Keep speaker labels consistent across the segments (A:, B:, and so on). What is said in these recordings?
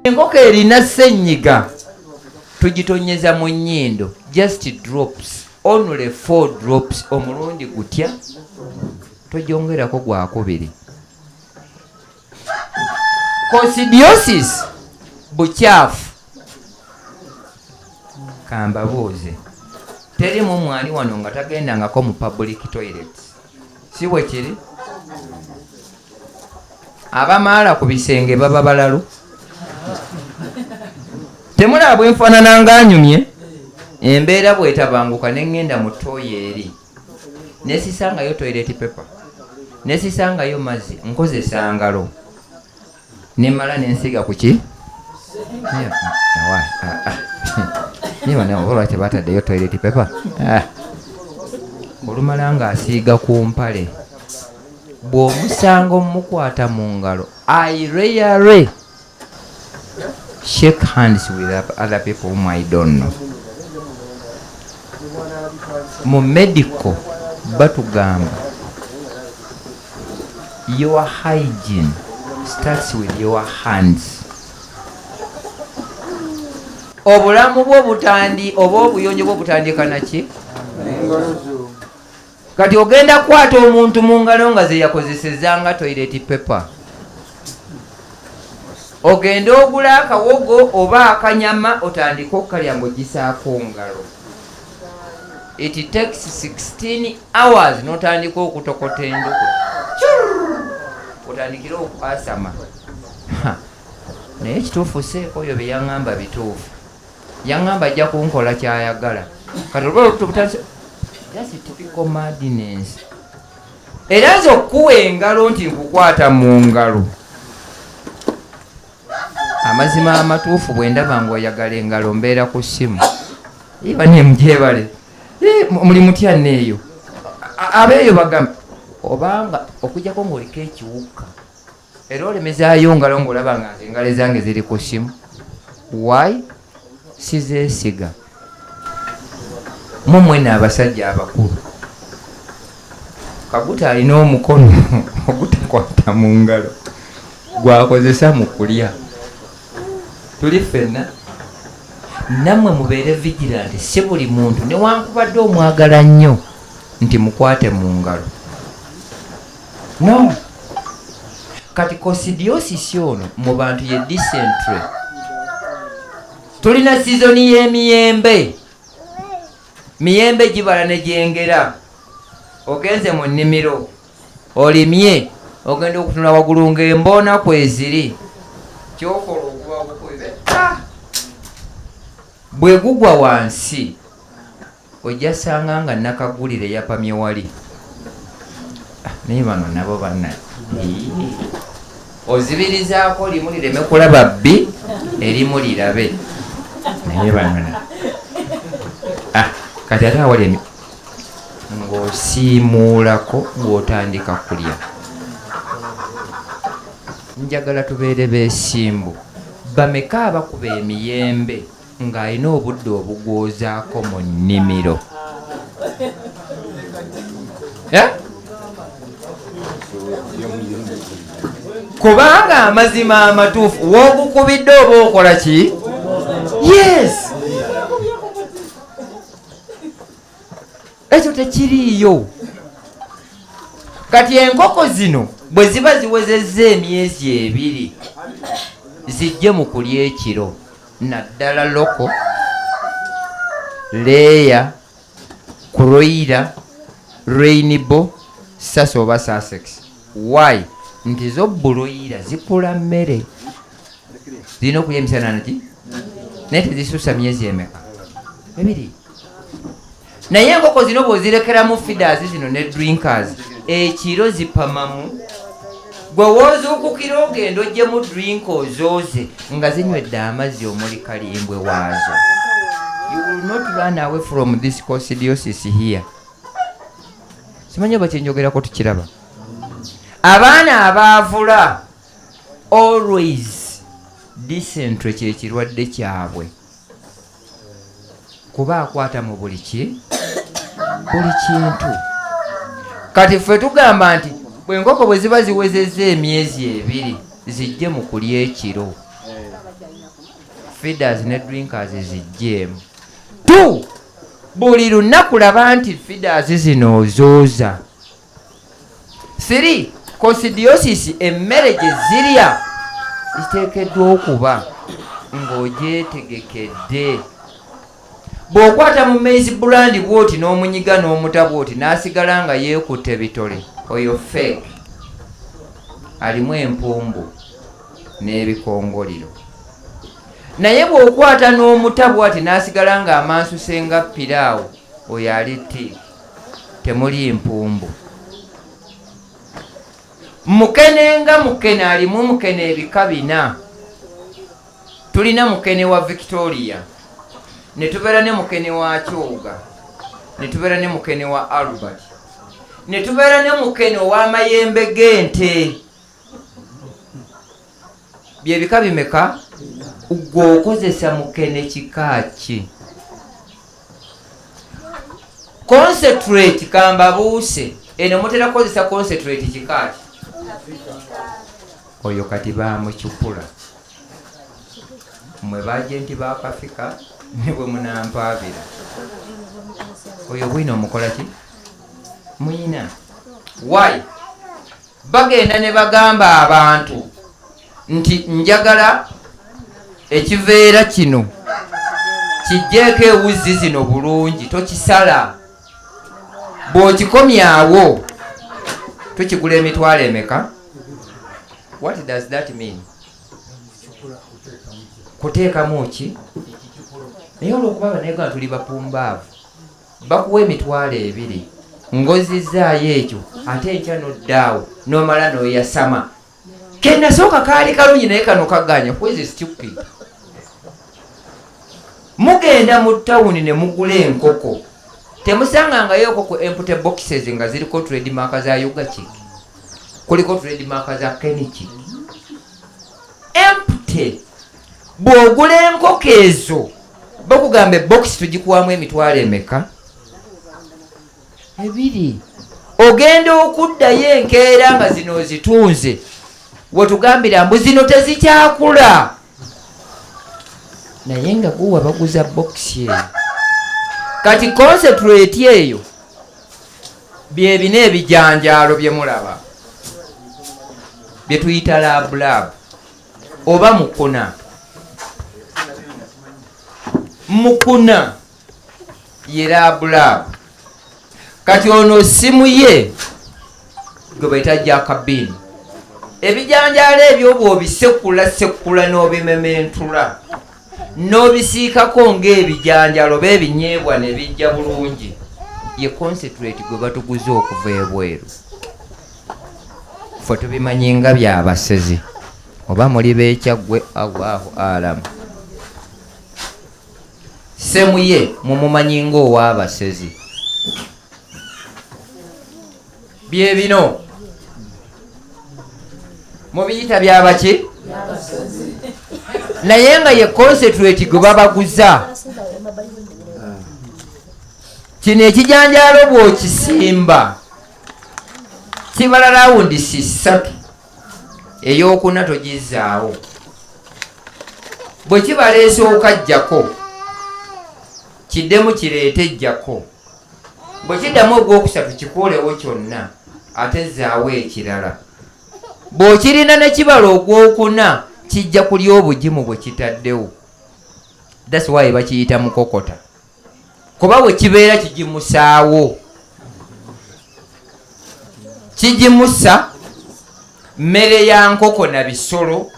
A: enkoko erina senyiga tugitonyeza mu nyindo just drops only four drops omulundi gutya togyongerako gwakubiri kosidiosis bukyafu kambabuuze teri mu mwali wano nga tagendangako mu public toilet si bwe kiri abamaala ku bisenge baba balalu temulaba bwenfaanana nga anyumye embeera bwetabanguka ne ŋŋenda mu tooyi eri nesisangayo toilet paper nesisangayo mazzi nkozesa ngalo nemala nensiga kuki nibanaolwaki bataddeyo toilet paper ah. olumala nga asiiga ku mpale bw'omusanga omukwata mu ngalo aireyare shake hands with other people whom I don't know. Mu medical batugamba your hygiene starts with your hands. Obulamu bwo butandi oba obuyonjo bwo butandika naki? kati ogenda kukwata omuntu mu ngalo nga zeyakozeseza nga toireti pepe ogende ogula akawogo oba akanyama otandike okukalya nga ogisaako ngalo it takes 16 hours notandika okutokota enduku otandikire okwasama naye kituufu seeko oyo byeyaŋamba bituufu yangamba ajja kunkola kyayagala kati olwa olubuto butandise that's typical madness era nze okukuwa engalo nti nkukwata mu ngalo amazima amatuufu bwe ndaba nga oyagala engalo mbeera ku ssimu iba nemugyebale muli mutya neeyo abeeyo bagamba obanga okujjako ngaoliko ekiwuka era olemezaayo ngalo ngaolaba nga nze engalo ezange ziri ku simu y sizesiga mumwena abasajja abakulu kaguta alina omukono ogutakwata mu ngalo gwakozesa mu kulya tuli ffenna nammwe mubeere vigilanti si buli muntu newankubadde omwagala nnyo nti mukwate mu ngalo no kati kosidiosisi ono mu bantu ye disentre tulina sizoni y'emiyembe miyembe gibala ne gyengera ogenze mu nnimiro olimye ogenda okutunula waggulu ng'emboona kweziri kyokola okuba bukuibe bwe gugwa wansi Ojja sanga nga nakagulire yapamye wali. Ah, naye bano nabo bana ozibirizaako limu lireme kulaba bbi erimu lirabe naye banona ah, kati ate awali ng'osiimuulako ng'otandika kulya njagala tubeere beesimbu bameka abakuba emiyembe ng'alina obudde obugwozaako mu nnimiro. kubanga amazima amatuufu wogukubidde oba okola ki yes ekyo tekiriiyo kati enkoko zino bwe ziba ziwezezza emyezi ebiri zijje mu kulya ekiro naddala loko leeya kuroyira rainbow sasa oba sasex y nti zo buloyira zikula mmere zirina okulya emisana naki naye tezisusa myezi emeka ebiri naye enkoko zino bwozirekeramu feeders zino ne drinkers ekiro zipamamu gwe wozuukukira ogenda ojjemu drink ozooze nga zinywedde amazzi omuli kalimbwe waazo you will not run away from this cosidiosis here simanyi oba kyenjogerako tukiraba abaana abaavula always dysentre kyekirwadde kyabwe kuba akwata mu buli ki buli kintu kati ffe tugamba nti bwenkoko bwe ziba ziwezeza emyezi ebiri zijje mu kulya ekiro feeders ne drinkers zijjeemu tu buli lunaku laba nti feeders zino ozooza 3 kosidiosisi emmere gye zirya ziteekeddwa okuba ng'ogyetegekedde bw'okwata mu maize bulandi bwoti n'omunyiga n'omuta bwoti n'asigala nga yeekutte bitole oyo fake alimu empumbu n'ebikongoliro naye bw'okwata n'omuta bwati n'asigala ng'amansusenga piraawo oyo ali tiiki temuli mpumbu mukene nga mukene alimu mukene ebika bina tulina mukene wa victoria netubeera ne mukene wa kyoga netubeera ne mukene wa albert netubeera ne mukene ow'amayembe g'ente byebika bimeka gwe okozesa mukene kika ki concentrate kambabuuse eno mutera kukozesa concentrate kika ki oyo kati bamucupula mwe bajenti bakafika nebwe munampaabira oyo bwino omukola ki muyina why bagenda ne bagamba abantu nti njagala ekiveera kino kijjeeko ewuzzi zino bulungi tokisala bw'okikomyawo tukigula emitwalo emeka what does that mean kuteekamu ki naye olwokuba abanayuganda tuli bapumbaavu bakuwa emitwalo ebiri ngozizaayo ekyo ate enkya noddaawo nomala noyasama kenasooka kaali kalungi naye kano kaganya kwezi stupid mugenda mu tawuni ne mugula enkoko temusangangayo enkoko empute boxes nga ziriko trademark za ugachik kuliko trademark za kenichik empute bw'ogula enkoko ezo bakugamba ebokisi tugikuwamu emitwalo emeka ebiri ogenda okuddayo enkeera nga zino ozitunze wetugambira mbu zino tezikyakula naye nga guwa baguza bokisi eyo kati concentrate eyo byebina ebijanjaalo byemulaba byetuyita labulaabu oba mukuna mukuna ye labulaabu kati ono simu ye gwe baita jakabini ebijanjaalo ebyobwa obisekula sekula n'obimementula n'obisiikako ng'ebijanjalo oba ebinyeebwa ne bijja bulungi ye concentrate gwe batuguza okuva ebweru fe tubimanyi nga byabasezi oba muli bekyaggwe allahu alamu semuye mumumanyi ngaowabasezi bye bino mubiyita byabaki naye nga ye concentrate gwe babaguza kino ekijanjaalo bwokisimba kibala rawundi sisatu eyokuna togizaawo bwe kibaleese okajjako kiddemu kireete jjako bwe kiddamu ogwokusatu kikuulewo kyonna ate zaawo ekirala bw'okirina ne kibala ogwokuna kijja kulya obugimu bwe kitaddewo that's why bakiyita mukokota kuba bwe kibeera kigimusaawo kigimusa mmere ya nkoko na bisolo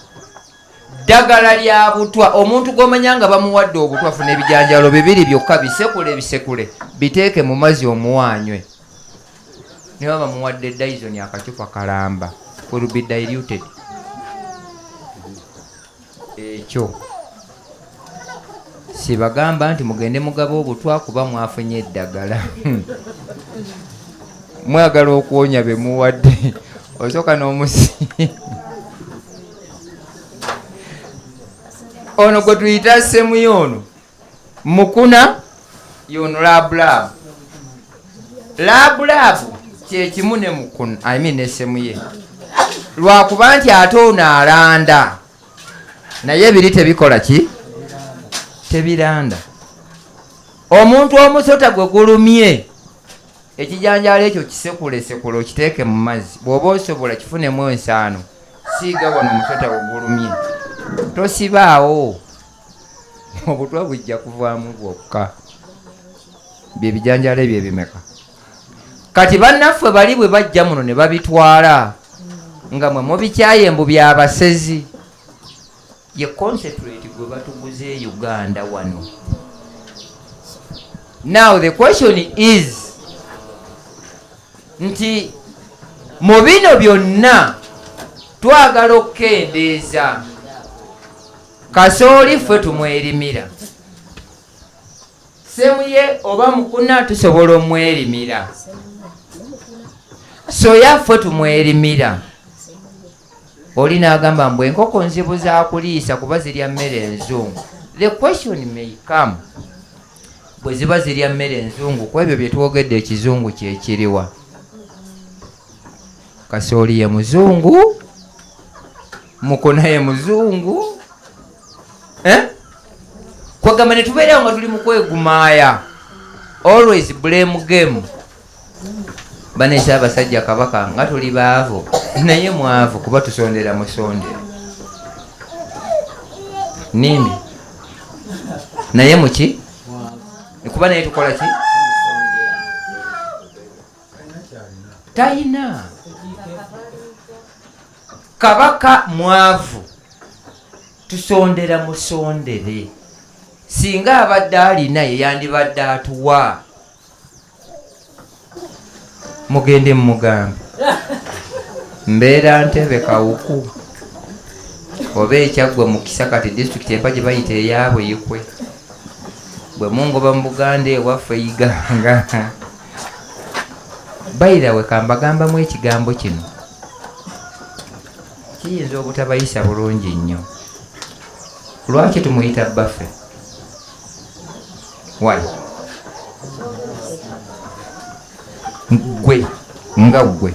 A: ddagala lya butwa omuntu gwomanya nga bamuwadde obutwa funa ebijanjalo bibiri byokka bisekule ebisekule biteeke mu mazzi omuwanywe niba bamuwadde dyson akacupa kalamba werubi diluted ekyo sibagamba nti mugende mugaba obutwa kuba mwafunye eddagala mwagala okuwonya bemuwadde osooka n'omusi ono gwe tuyita semuye ono mukuna yono labulaabu labulaabu kyekimu ne mukuna i mean ne semuye lwakuba nti ate ono alanda naye biri tebikola ki tebiranda omuntu omusota gwe gulumye ekijanjaalo ekyo kisekulesekule okiteeke mu mazzi bw'oba osobola kifunemu ensaano siiga wano omusota ogulumye tosibaawo obutwa bujja kuvaamu bwokka bye bijanjaalo ebyo ebimeka kati bannaffe bali bwe bajja muno ne babitwala nga mwe mubikyaye mbu byabasezi Ye concentrate gwe batuguze e Uganda wano. Now the question is nti mu bino byonna twagala okukendeeza kasooli ffe tumwerimira semuye oba mukuna tusobola omwerimira soya ffe tumwerimira Oli nagamba mbu enkoko nzibu zakuliisa kuba zirya mmere enzungu. The question may come, bweziba zirya mmere enzungu kwebyo byetwogedde ekizungu kyekiriwa? Kasooli ye muzungu, mukuna ye muzungu eh? Kwegamba netubeerawo nga tuli mukwegumaaya, always blame game. bane Ssaabasajja Kabaka nga tuli baavu naye mwavu kuba tusondera musondera nini naye muki kuba naye tukola ki tayina kabaka mwavu tusondera musondere singa abadde alina yeyandibadde atuwa mugende mumugambe mbeera ntebe kawuku oba ekyaggwe mukisa kati disitulikiti empa gye bayita eyaabwe yikwe bwe mungoba mu buganda ewaffe iganga bayirawe kambagambamu ekigambo kino kiyinza obutabayisa bulungi nnyo lwaki tumuyita bbaffe why gwe nga gwe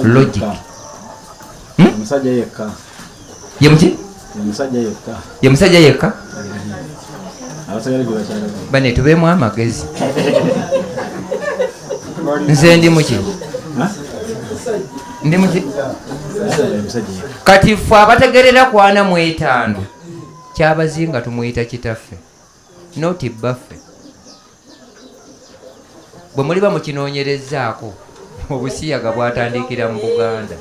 A: logic omusajja yekka
B: ye
A: muki omusajja yekka ye musajja yekka bane tubeemu amagezi nze ndi muki ndi muki kati ffe abategerera kwana mu etaano kyabazinga tumuyita kitaffe noti bbaffe bwe muliba mukinoonyerezaako obusiyaga bwatandikira mu buganda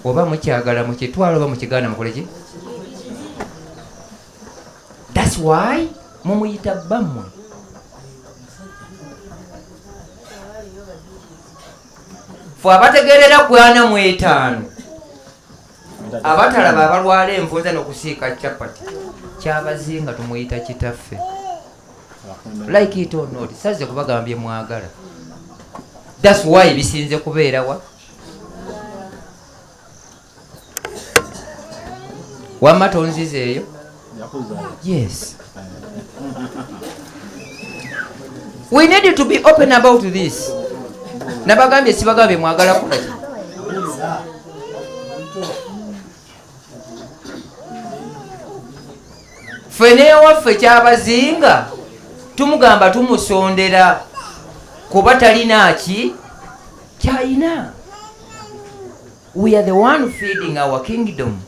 A: oba mukyagala mukitwala oba mukiganda mukoleki thats why mumuyita bamwe fe abategerera kwana mu etaano abatalaba abalwala envunza nokusiika capati kyabazinga tumuyita kitaffe like it or not saze kubagamba byemwagala thats why bisinze kubeerawa wamma tonziza eyo yes we need to be open about this nabagambye sibagamba bemwagala kukola ffe newaffe kyabazinga tumugamba tumusondera kuba talina ki China. We are the one feeding our kingdom.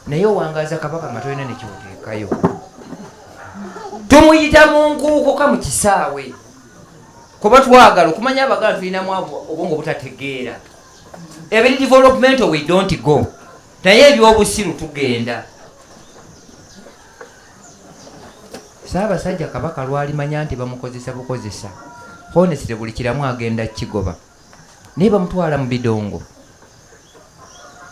A: naye owangaza kabaka nga tolina nekimuteekayo tumuyita mu nkuukuka mu kisaawe kuba twagala okumanya abagala tulinamu obwongo butategeera ebiri developmental we don't go naye ebyobusiru tugenda Ssaabasajja Kabaka lwalimanya nti bamukozesa bukozesa, honestly buli kiramu agenda kukigoba. Naye bamutwala mu bidongo.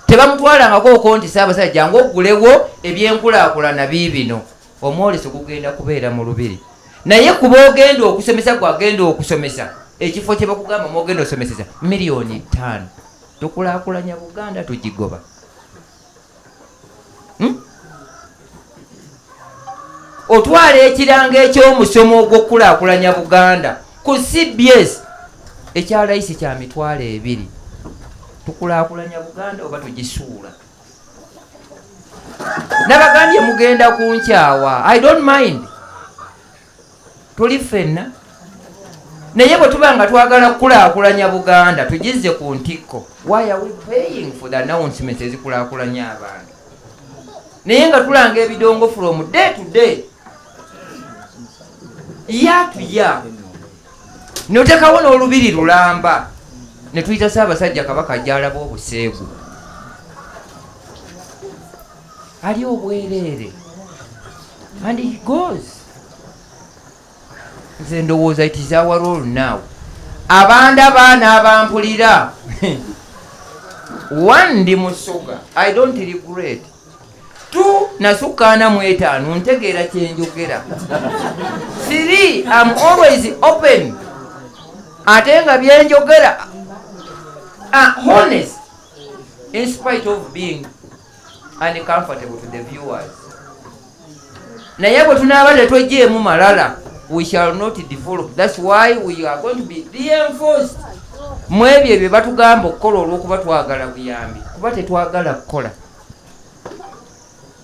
A: Tebamutwalangako oko nti Ssaabasajja jangu oggulewo ebyenkulaakulana biibino. Omwoleso gugenda kubeera mu Lubiri. Naye ku boogenda okusomesa gwagenda okusomesa ekifo kye bakugamba mwogenda osomeseza miliyoni ttaano. Tukulaakulanya Buganda tugigoba. hmm? otwala ekirango ekyomusomo ogwokukulakulanya buganda ku cbs ekya layisi kya mitwalo ebiri tukulakulanya buganda oba tugisuula nabagambye mugenda kunkyawa i don't mind tuli ffenna naye bwe tuba nga twagala kukulaakulanya buganda tugizze ku ntikko why are we paying for the announcements ezikulaakulanya abantu naye nga tulanga ebidongo from day to day yatuya notekawo n'olubiri lulamba ne tuyita saabasajja kabaka gyalaba obuseegu ali obwereere and he goes nze ndowooza it is our role now abanda baana abampulira one ndi musoga i don't regret two nasukkaana mu etaano ntegeera kyenjogera three am always open ate nga byenjogera ah, honest in spite of being and comfortable to the viewers naye bwe tunaaba tetwejjeemu malala we shall not develop thats why we are going to be reinforced mu ebyo ebyo batugamba okukola olwokuba twagala buyambi kuba tetwagala kukola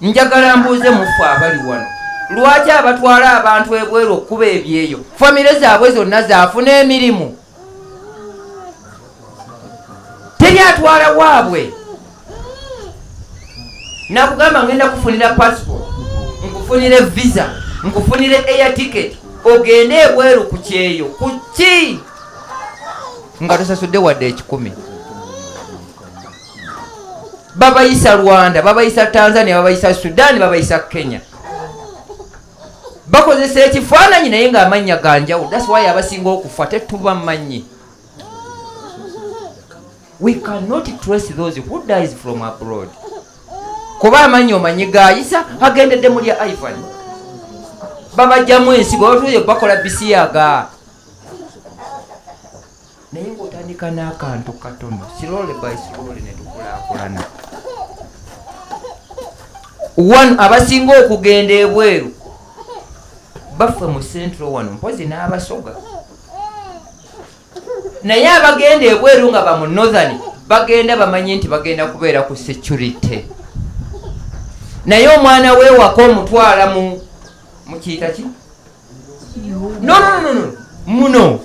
A: njagala mbuuze muffe abali wano lwaki abatwala abantu ebweru okukuba ebyeyo famire zaabwe zonna zaafuna emirimu teri atwala waabwe nakugamba ngenda kufunira passport nkufunire visa nkufunire air ticket ogende ebweru ku kyeyo ku ki nga tosasudde wadde ekikumi babayisa rwanda babayisa tanzania babayisa sudan babayisa kenya bakozesa ekifaananyi naye ng'amannya ga njawulo that's why abasinga okufa tetuba mannyi we cannot trace those who dies from abroad kuba amanyi omanyi gayisa agendedde muli ivan babajjamu ensi bwebatuyo bakola bisiyaga naye ng'otandika n'akantu katono slowly by slowly ne tukulaakulana wano abasinga okugenda ebweru baffe mu central wano mpozi n'abasoga naye abagenda ebweru nga bamu northern bagenda bamanyi nti bagenda kubeera ku security naye omwana wewaka omutwala mu mukiyita ki nononono muno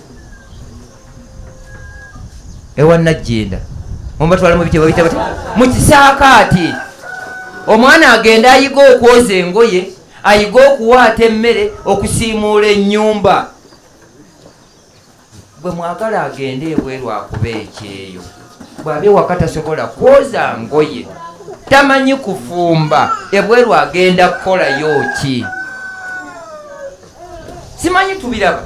A: ewa najjenda omubatwala mubitebwa bitaba mukisaakaati omwana agenda ayiga okwoza engoye ayiga okuwaata emmere okusiimuula ennyumba Gwe mwagala agende ebweru akuba ekyeyo bwaba ewaka tasobola kwoza ngoye tamanyi kufumba ebweru agenda kukolayo ki simanyi tubiraba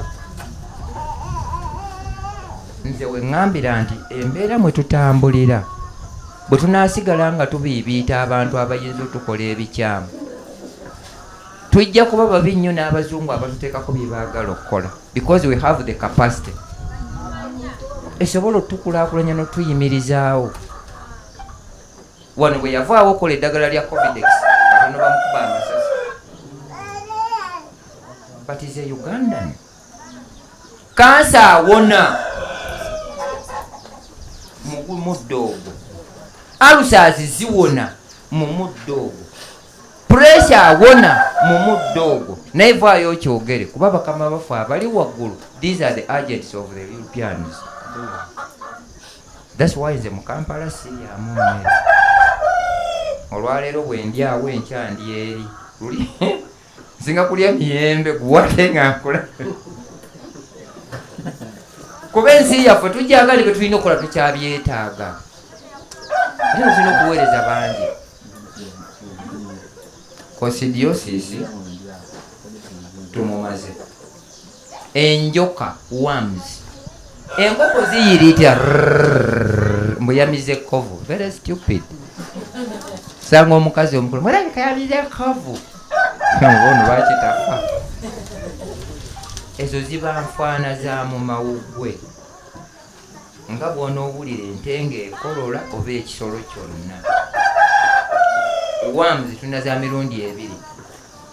A: nze weŋambira nti embeera mwe tutambulira bwe tunasigala nga tubiibiita abantu abayinza otukola ebikyamu tujja kuba babi nnyo n'abazungu abatuteekako bye baagala okukola because we have the capacity esobola otukulaakulanya n'otuyimirizaawo wano bwe yavaawo okola eddagala lya covidex katono bamukuba amasasi but is a ugandan kansa awona muddo ogwo alusazi ziwona mu muddo ogwo Pressure awona mu muddo ogwo naye vaayo okyogere kuba bakama baffe abali waggulu these are the agents of the Europeans. That's why nze mu Kampala siryamu mmere. Olwaleero bwe ndyawo enkya ndi eri luli nsinga kulya miyembe guwate nga nkula kuba ensi yaffe tujagale bye tulina okukola tukyabyetaaga ate tulina okuweereza bangi kosidiyosisi tumumaze enjoka worms enkoko ziyiriitya mbu yamize ekkovu very stupid sanga omukazi omukulu mulabika yamize ekkovu ono bakitafa ezo ziba nfaana za mu mawuggwe nga bw'onoowulira ente ng'ekolola oba ekisolo kyonna. Worms tulina za mirundi ebiri,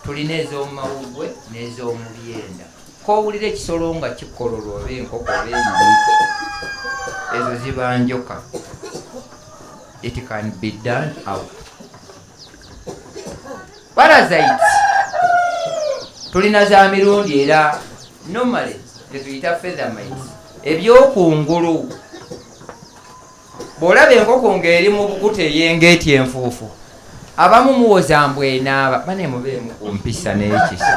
A: tulina ez'omu mawuggwe n'ez'omu byenda. K'owulira ekisolo nga kikololwa oba enkoko oba enyonyi, ezo ziba njoka. It can be done out. parasite tulina za mirundi era normally tetuyita feathermite ebyokungulu bw'olaba enkoko ng'eri mu bukuta eyengeeti enfuufu abamu muwoza mbu enaaba bane mubeemu ku mpisa n'ekisa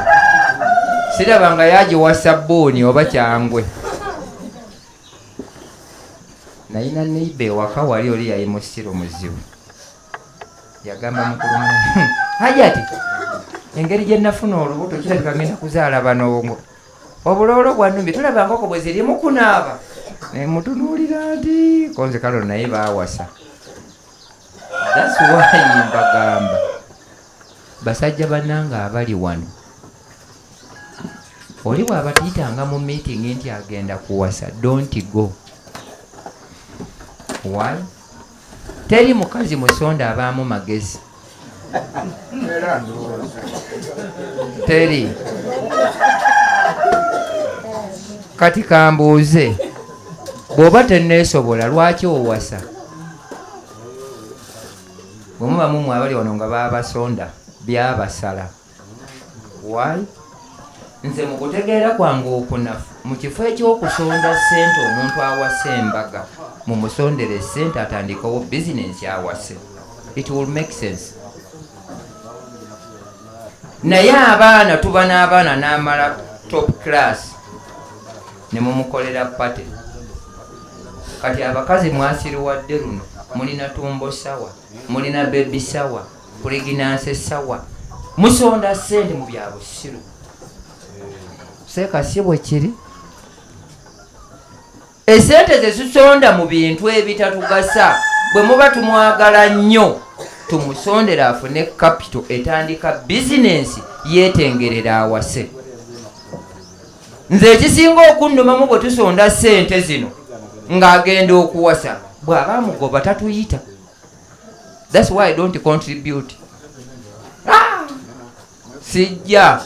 A: siraba nga yagiwa sabbuuni oba kyangwe nayina neiba ewaka wali oli yali musiru muzibu yagamba mukulu hajati engeri gye nafuna olubuto kirabika ngenda kuzaala banongo obuloolo bwanumbi tulaba nkoko bwe ziri mukunaaba nemutunuulira nti konze kalo naye bawasa thats why mbagamba basajja banange abali wano oli bwabatiyitanga mu meeting nti agenda kuwasa don't go why teri mukazi musonda abaamu magezi teri kati kambuuze bw'oba teneesobola lwaki owasa bwemuba mumwe abali wano nga babasonda byabasala Why? Nze mu kutegeera kwange okunafu mu kifo eky'okusonda ssente omuntu awase embaga mu musondere ssente atandikewo bizinensi awase it will make sense naye abaana tuba n'abaana n'amala top class ne mumukolera pate kati abakazi mwasiriwadde luno mulina tumbo sawa mulina bebi sawa Pregnancy sawa musonda sente mu bya busiru seeka si bwe kiri esente ze zisonda mu bintu ebitatugasa bwe muba tumwagala nnyo tumusondera afune kapito etandika bizinensi yeetengerera awase nze ekisinga okunnumamu bwe tusonda sente zino ng'agenda okuwasa bw'aba amugoba tatuyita That's why I don't contribute. Ah! Sijja.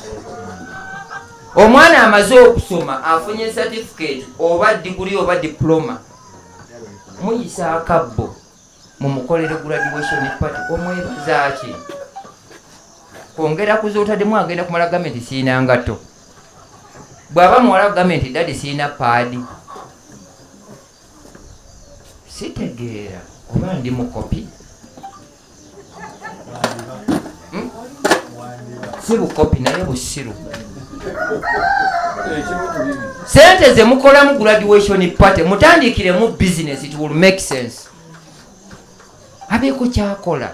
A: Omwana amaze okusoma afunye certificate oba degree oba diploma. Muyisa akabbo mu mukolere graduation party omwebaza ki? Kwongera kuzootademu agenda kumala gavumenti siina ngato. Bw'aba muwala gavumenti dadi siina paadi. sitegeera oba ndi mukopi hmm? si bukopi naye busiru sente zemukolamu graduation party mutandikiremu business it will make sense abeeko kyakola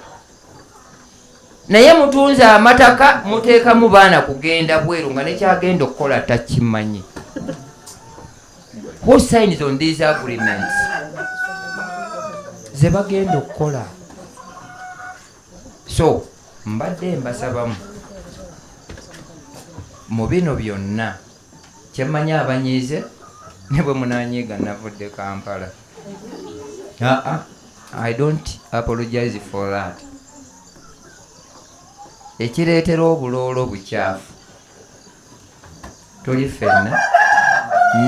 A: naye mutunze amataka muteekamu baana kugenda bweru nga nekyagenda okukola takimanyi who signs on these agreements ze bagenda okukola so mbadde mbasabamu mu bino byonna Kye mmanyi abanyiize ne bwe munaanyiiga nnavudde Kampala. Aa, I don't apologize for that. Ekireetera obuloolo bucaafu tuli ffenna,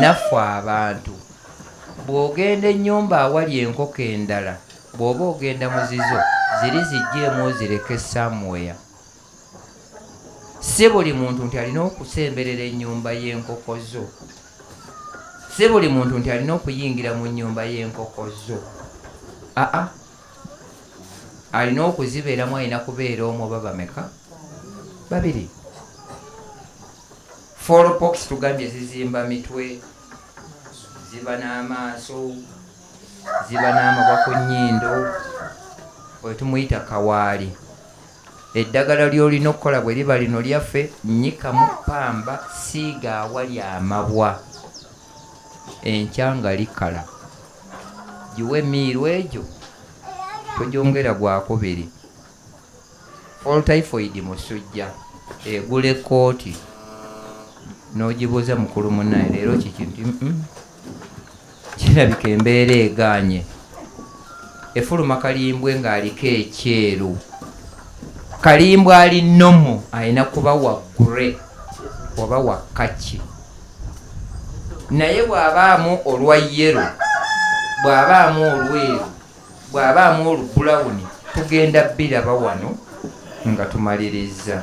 A: naffe abantu. Bw'ogenda ennyumba awali enkoko endala, bw'oba ogenda mu zizo, ziri ziggyeemu ozireke somewhere. Si buli muntu nti alina okusemberera ennyumba y'enkoko zo. Si buli muntu nti alina okuyingira mu nnyumba y'enkoko zo. Aa, alina okuzibeeramu, alina kubeera omu oba bameka? Babiri. Foolopokisi tugambye zizimba mitwe, ziba n'amaaso, ziba n'amabwa ku nnyindo, oyo tumuyita kawaali. Eddagala ly'olina okukola bwe liba lino lyaffe, nnyika mu ppamba, siiga awali amabwa, enkya nga likala giwe emiiru egyo, togyongera gwakubiri. Fall typhoid musujja, egula ekkooti n'ogibuuza mukulu munnaayo leero kiki nti mm. kirabika embeera egaanye efuluma kalimbwe ng'aliko ekyeru kalimbwe ali nomo alina kuba wa gre oba wa kaki naye bw'abaamu olwa yero bw'abaamu olweru bw'abaamu olubulawuni tugenda biraba wano nga tumalirizza